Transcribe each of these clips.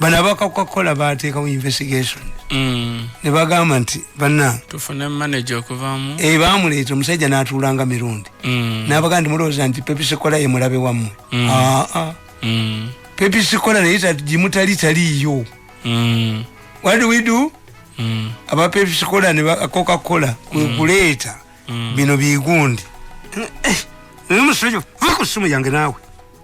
bano abakakokakola bateekawo investigation mm. ne bagamba nti banna tufune manaje okuvamu e eh, bamuleeta omusajja n'atuulanga mirundi mm. n'abaga nti mulowooza nti pepisikola ye mulabe wammwe mm. aa ah, ah. mm. pepisikola naye gimutali taliiyo mm. what do we do mm. aba pepisikola ne bakokakola kwekuleeta mm. mm. bino bigundi eh, eh, naye musajja va ku ssimu yange naawe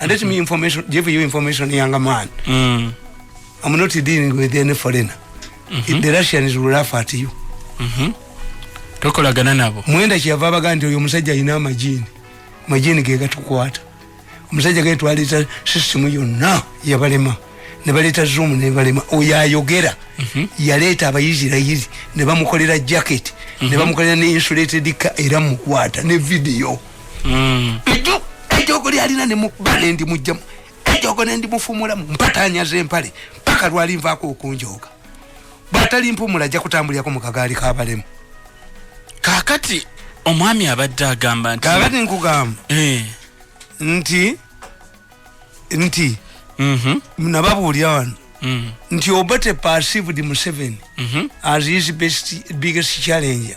And let me information, give you information, young man. Mm. I'm not dealing with any foreigner. Mm -hmm. The Russians will laugh at you. Mm -hmm. Tokolagana nabo. Mwenda kiyava abaga nti oyo musajja alina amajini. Majini ge gatukwata. Omusajja ge twaleta system yonna yabalema. Ne baleta Zoom ne balema. Oyo ayogera. Mm -hmm. Yaleta abayisirayiri ne bamukolera jacket. Mm -hmm. Ne mhm. bamukolera ne insulated car era mukwata ne video. Mm mm. ejo ejogo lyalina ne mukbana endi mujjamu ejogo nendi mufumulamu mpatanya zempale paka lwali nvako okunjoga batali mpumula ajja kutambulirako mu kagaali kabalemu kakati omwami abadde agamba nti kakati nkugamba eh. nti nti mhm. nababuulira wano mm. nti obate perceived museveni mhm. as his best biggest challenger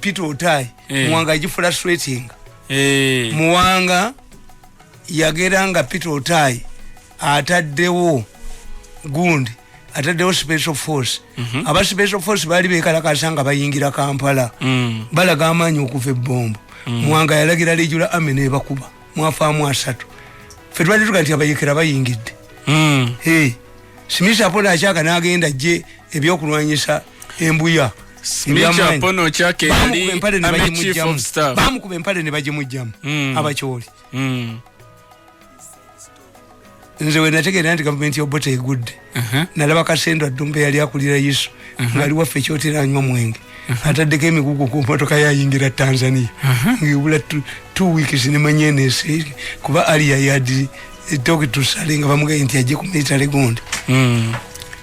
peter otai eh. muwanga ajifula sweeting eh. muwanga yagera nga peter otai ataddewo gundi ataddewo special force mm -hmm. aba special force baali bekalakasa nga bayingira kampala mm. balaga amaanyi okuva ebbombo mm. muwanga yalagira lejula ame nebakuba mwafaamu asatu fe twali tuga nti abayekera bayingidde mm. hey. smith apona akyaka nagenda je ebyokulwanyisa embuya bamukuba empale nebagimujjamu hmm. abakyoli hmm. nze wenategeera nti gavumenti yobota egudde uh-huh. nalaba kasendo addumba eyali akulira yesu uh-huh. ngaali waffe ekyotera anywa mwenge uh-huh. ataddeko emigugu ku motoka yayingira tanzania ngaebula t weeks nemanya eno eseeri kuba ali yayadiri eh, toki tusale nga bamugaye nti ajje ku military gundi hmm.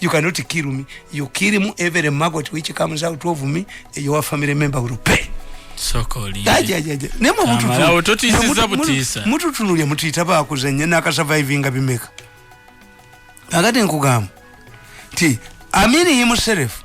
You cannot kill me. You kill him, every maggot which comes out of me, your family member will pay. mututunulya mutuyita bakuzanya nakasavaivinga bimeka agati nkugamba nti amini yimuserefu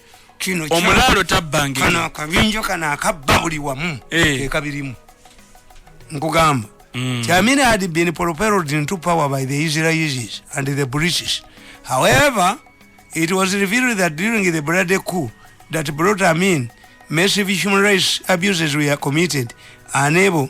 kino omulaalo tabbange kano akabinjo kano akabba buli wamu eh. kekabirimu nkugamba mm. jamina had been propelled into power by the israelis and the british however it was revealed that during the brade coup that brought amin massive human rights abuses were committed unable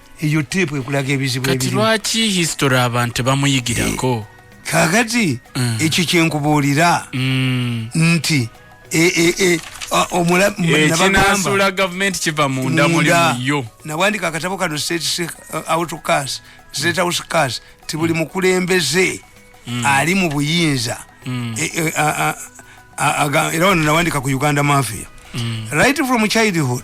eyo teepu ekulaga ebizibu kati lwaki history abantu tebamuyigirako eh, kakati mm. ekyo kyenkubuulira mm. nti eh, eh, omuekinasula gavumenti kiva munda mulimuyo nawandika akatabo kano outcas zetaus cas ti buli mukulembeze mm. ali mu buyinza era wano nawandika ku uganda mafia right from childhood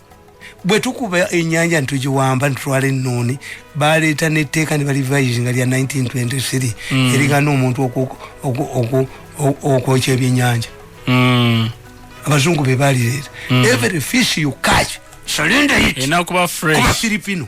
bwe tukuba enyanja nitugiwamba nitutwala ennuuni baleeta netteeka ne balivayisi nga lya 1923 mm. erigana omuntu okwokya ebyenyanja mm. abazungu be balireeta mm. every fish you catch surrender it enakuba fresh kuba filipino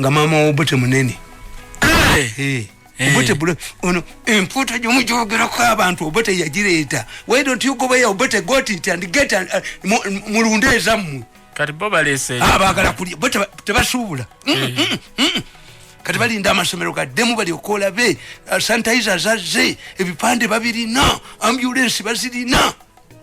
nga mama obote munene eh. Eh. Eh. obote bula ono empuuta gyomu gyogerako abantu obote yagireeta why don't you go by obote got it and get uh, mulunde ezammwe kati bo balese ah, bagala kulya bo tebasuubula mm, mm, mm, kati balinda amasomero gaddemu bali okoola be uh, sanitizer zazze ebipande babirina ambulensi bazirina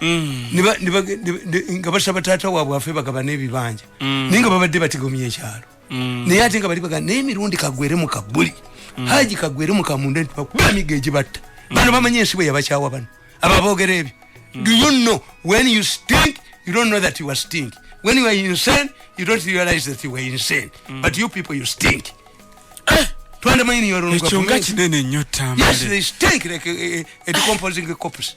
mm. nga basaba taata waabwe afe bagaba n'ebibanja mm. naye nga babadde batigomya ekyalo mm. naye ate nga bali baga naye emirundi kagwere mu kabuli haji kagwere mu kamunda nti bakuba amiga egibatta bano bamanyi ensi bwe yabakyawa bano ababoogera ebyo do you know when you stink you don't know that you are stink when you are insane you don't realize that you are insane but you people you stink eh! ekyo nga kinene nnyo tamale yes they stink like a, eh, a, eh, a decomposing corpse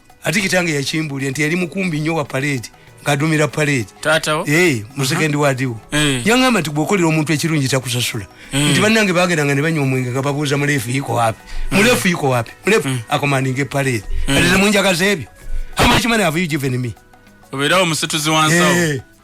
ate kitange yakimbulira nti yali mukumbi nnyo wa parade ngadumira parade eh, musekendi uh-huh. wadiwo eh. yangamba nti gweokolera omuntu ekirungi takusasula eh. nti banange bageranga ne banywa omwenge nga babuuza muleefu yiko wapi muleefu yiko wapi muleefu akomandinga eparade ate temunjagaza ebyo how much money have you given me obeerawo omusituzi wansawo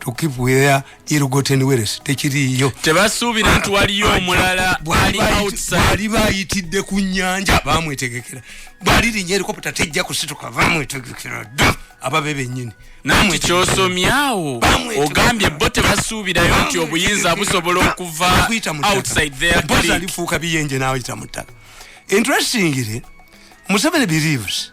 to keep where irugoten weres tekiriyo tebasuubira nti waliyo omulala ali outside bali bayitidde ku nyanja bamwetegekera bali linya erikopta tejja kusituka bamwetegekera dda ababe bennyini nanti kyosomyawo ogambye bo tebasuubirayo nti obuyinza busobola okuva outside there boza lifuuka biyenje nawe yita mu ttaka interestingly museveni believes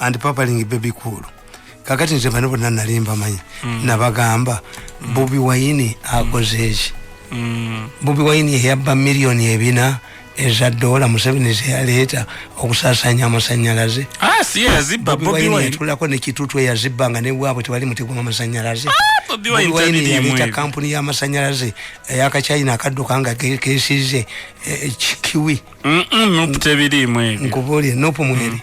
and papaling baby cool kakati nze bano bonna nali mbamanya mm. nabagamba mm. bobi wayini akoze eki mm. bobi wayini eyabba miliyoni ebina eza dola museveni zeyaleeta okusasanya amasanyalaze ah, yatulako nekitutu eyazibba nga nebwabwe tewali mutegoma amasanyalaze ah, bobi wayini yaleeta kampuni yamasanyalaze eyakachina akadduka nga kesize eh, kiwi nkubuulire nopu mweri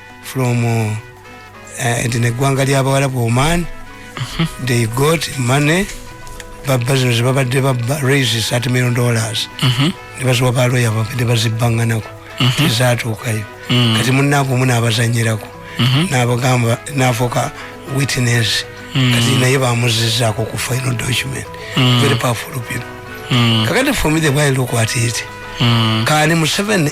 from uh, and neggwanga lyabawalabu oman mhm. they got money babba zino zebabadde babba raise sat million dollars mhm. nebaziwa baloya babadde bazibbanganako mhm. tezatuukayo mm. kati munaku omu nabazanyirako nabagamba nafuka witness mm. kati naye bamuzizako ku final document mm. very powerful people kakati for me the way look at it kani museveni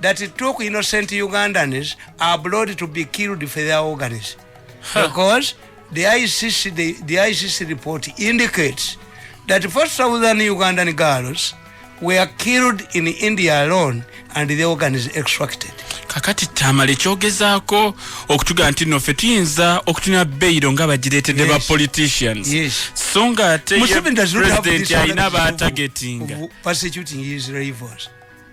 that it took innocent Ugandans abroad to be killed for their organs. Huh. Because the ICC, the, the ICC report indicates that four thousand Ugandan girls were killed in India alone and the organ is extracted. kakati tamale kyogezaako okutuga nti no fe tuyinza okutunira beyiro nga bagireetedde ba politicians so nga ate president alina batagatinga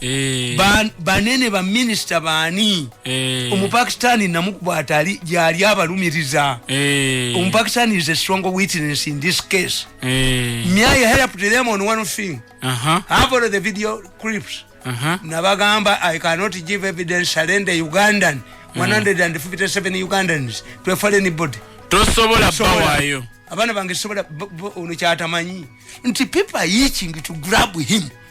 Eh. banene baminisita baani eh. omupakistani namukwata ali gyali abalumiriza eh. omupakistani is a strong witness in this case may i help to them on one thing uh-huh. have all the video clips uh-huh. nabagamba i cannot give evidence surrender ugandan 157 mm. ugandans to a foreign body tosobola bawayo abana bange sobola ono kyatamanyi nti people are itching to grab him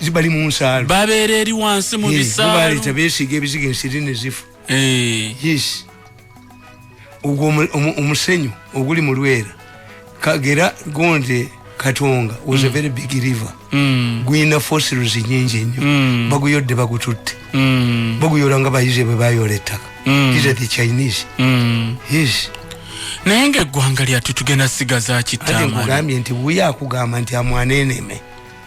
zibali mu nsaalo babeera eri wansi mu bisaalobaleeta besiiga ebizigo ensiri ne zifu eh. yes ogwo omusenyu oguli mu lwera kagera gonde katonga was mm. a very big river mm. guyina fossils nyingi nnyo mm. baguyodde bagututte mm. baguyola nga bayize bwe bayola ettaka mm. these are the chinese mm. yes naye ngaeggwanga lyatu tugenda sigaza kitamani nkugambye nti wuyo akugamba nti amwaneneme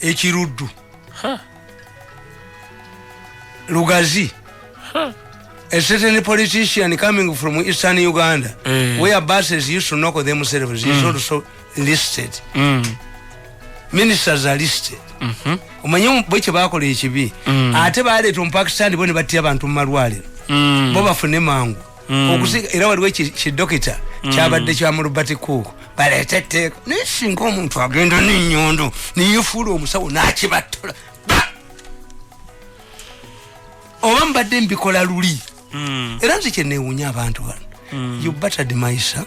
ekiruddu lugazi a certain politician coming from eastern uganda eh. where buses used to knock themselves mm. is also listed mm. ministers are listed mm -hmm. omanyi bwekye bakola ekibi mm. ate baleeta omupakistani bo ne batya abantu mu malwaliro mm. bo bafune mangu mm. okusinga era waliwo kidokita mm. kyabadde kya mulubati kuuku baleeta etteeka naye singa omuntu agenda nenyondo neyefuula omusawo nakibattola oba mbadde mbikola luli mm. era nze kyenewunya abantu bano mm. you battered my son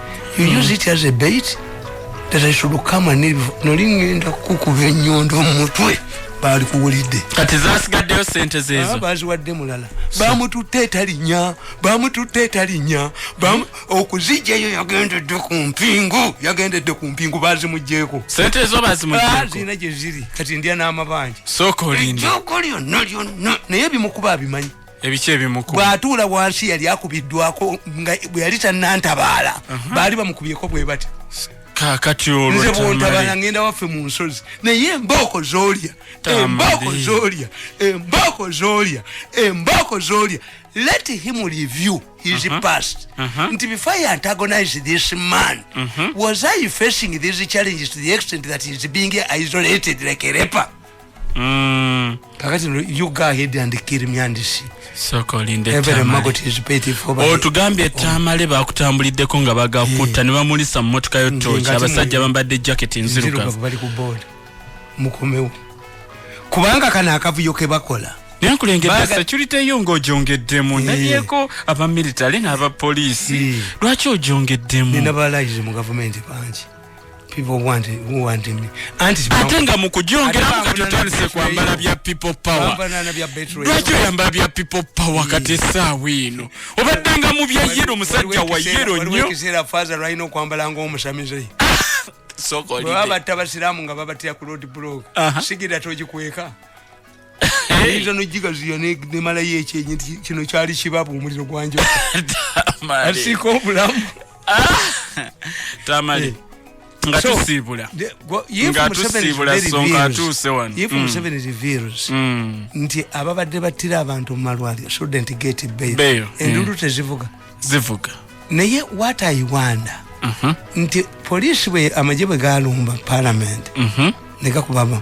you mm. use it as a bait that I should come and live noli ngenda kukuba enyondo omutwe baali kuwulidde kati zasigaddeyo sente zezo ah, baziwadde mulala bamututte etalinya bamututte etalinya okuzijjayo yagendedde ku mpingu yagendedde ku mpingu bazimugyeko sente zo bazimugyekozina ah, gyeziri kati ndya n'amabanja sooka olindyoka lyonna lyonna naye bimukuba abimanyi ebiki ebimuku bwatuula wansi yali akubiddwako nga bwe yali tannantabaala baali bamukubyeko bwe bati kakati olwo nze bwontabala ngenda waffe mu nsozi naye embooko zolya embooko zolya embooko zolya embooko zolya let him review his uh -huh. past uh -huh. nti before i antagonize this man uh mhm. -huh. was i facing these challenges to the extent that he is being isolated like a reper Mm. kakati no you go ahead and kill me and see otugambye tamale bakutambuliddeko nga bagakutta ne bamulisa mu motoka yo toki abasajja bambadde jacket nzirugavu bali ku board mukomewo kubanga kana akavuyo ke bakola nakulengedde security yo ng'ojongeddemu eh. nalyeko aba military n'aba poliisi eh. lwaki ojongeddemu nina balayizi mu gavumenti bangi people want it, who want me anti ate nga mukujongera kati otandise kwambala bya people power lwaki oyambala bya people power kati esaawa eno obaddanga mu bya yero musajja wa yero nyo ekiseera faza lwalina okwambala ngaomusamize babatta basiraamu nga babatira ku road block sigida togikweka ayinza nogigaziya nemalayo ekyenyi nti kino kyali kibabu omuliro gwanjasiika obulamu ah! tamale eh. nga tusiibula nga tusiibula songa atuuse wano if mm. museveni reveals mm. nti ababadde battira abantu mu malwaliro shouldn't get bail enduulu mm. tezivuga zivuga naye what i wonder mm-hmm. nti poliisi bwe amagye bwe galumba palamenti mm-hmm. negakubamu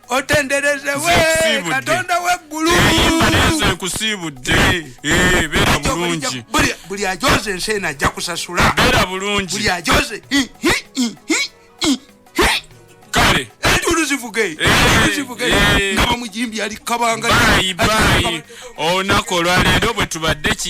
otenderezewe katonda weggulu nkusiibudde eh, beera bulungi buli ajoze ensi eno ajja kusasula beera bulungi buli ajoze kale entuulu zivuge eh, entuulu zivuge eh. nga bamujimbi ali kabanga olunaku olwaleero bwe tubadde ki